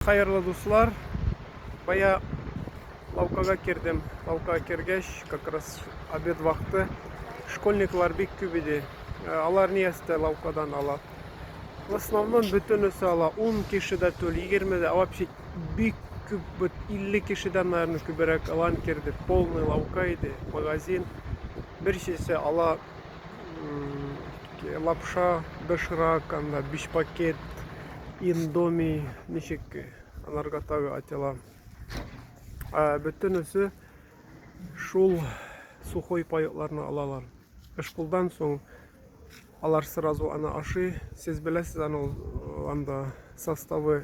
Хәерле дуслар, бая лавкага кердем, лавкага кергәч, как раз обед вакыты, школьниклар бик күп иде, э, алар ни әстә лавкадан ала. В основном бөтенесе ала, 10 кеше дә түл, 20 дә, вообще бик күп, бит 50 кешедән, наверное, күберәк алан керде, полный лавка иде, магазин, бер шешә ала, лапша доширак анда биш пакет индоми ничек аларга тагы атела бөтенесе шул сухой паекларны алалар эшкулдан соң алар сразу аны ашый сез беләсез аны анда составы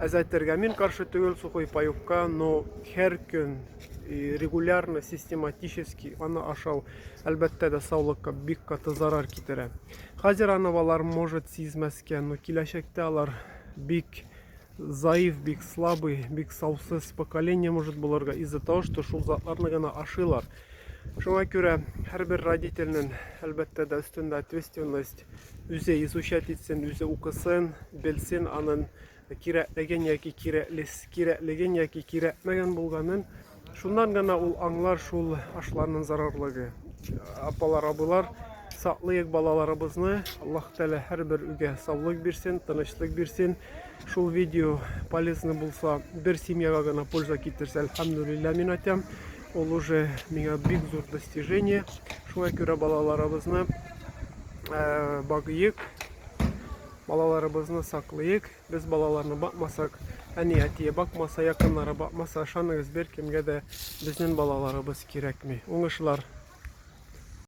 Әз әйтергә мин каршы түгел сухой паёкка, но һәр көн регулярно, систематически аны ашау, әлбәттә дә, саулыкка бик каты зарар китерә. Хәзер аны балалар может сизмәскә, но киләчәктә алар бик заив, бик слабый, бик саусыз поколение может булырга из-за того, что шул затларны гына ашыйлар. Шуңа күрә һәрбер родительнең, әлбәттә дә, өстендә ответственность. Үзе изучать итсен, үзе укысын, белсен аның кирәклеген яки кирәклеген яки кирәкмәгән булганын. Шуннан гына ул аңлар шул ашларның зарарлыгы. Апалар, абылар, саклыйк балаларыбызны. Аллаһ Тәгалә һәрбер үгә саулык бирсен, тынычлык бирсен. Шул видео полезно булса, бер семьяга гына польза китерсә, альхамдулилля мин атям. Ул уже миңа бик зур достижение. Шуңа күрә балаларыбызны э, багыйк, балаларыбызны саклыйк. Без балаларны бакмасак, әни әтие бакмаса, якыннары бакмаса, ышаныгыз, бер кемгә дә безнең балаларыбыз кирәкми. Уңышлар!